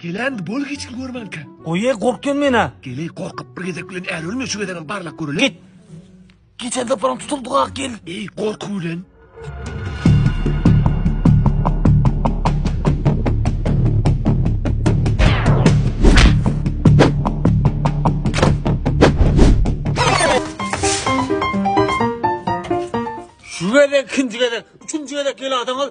Gelend bol hiç kim görmänkä. Goýe gorkýan mena. Geleý gorkup bir gezek bilen äl ölme şu gezegem barlak göreli. Git. Geçen zaparam tutuldyk ak gel. Eý gorku bilen. Şu gezek ikinci gezek. Üçünji gezek gel adam al.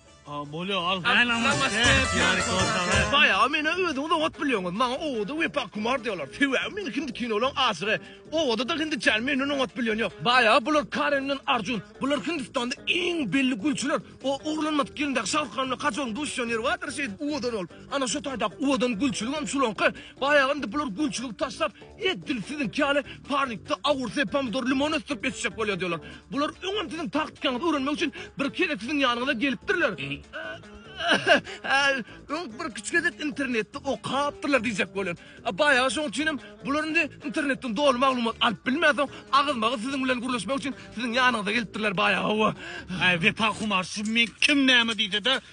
Baýaga meni özüňiz oňat bilýäňiz. Maňa Owoda Wepa Kumar diýýärler. Sebäbi men hindi kinolaryň aşygy. Owoda-da hindiçäni menden oňat bilýän ýok. Baýaga bular Karen bilen Arjun. Bular Hindistanda iň belli gülçüler. O oglanmadyk gelindäki Şahrukan bilen Kajolyň duşýan ýeri bardyr şeýdip Owodan ol. Ana şo taýdaky Owodan gülçüligem şulaňky. Baýaga indi bular gülçüligi taşlap, Edil siziňki ýaly parnikde awurse, pomidor, limon ösdürip ýetişdirip bolýar diýýärler. Bular öňem siziň taktikaňyzy öwrenmek üçin birki gezek siziň ýanyňyza gelipdirler. Öň birküç gezek internetde okapdyrlar diýjek bolýan. Baýagy şoň üçinem bular indi internetden doly maglumat alyp bilmänsoň, agyzma-agyz siziň bilen gürleşmek üçin siziň ýanyňyza gelipdirler baýagy-owa. Äý, Wepa Humar, şu men kim näme diýse-de,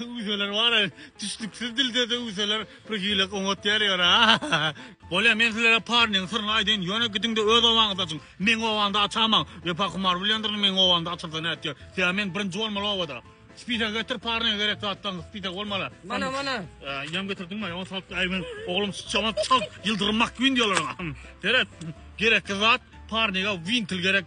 Üýseler bara tüşlüksiz dildede üýseler bir hile oňat ýeri ýok a. Bolýa men sizlere parnyň syryny aýdaýyn ýöne gidiňde öz obaňyzda açyň meň obamda açaman wepa kumar bilendirin meň obamda açylsa nätýär sebäbi men birinji bolmaly obada Spise getir parnyň gerek zatlaň spise bolmaly. Mana mana. Ýam getirdiň mi? Ýa salyp aý men oglum çamat çal ýyldyrym makgyn diýerler. Seret. Gerekli zat parnyga wintil gerek.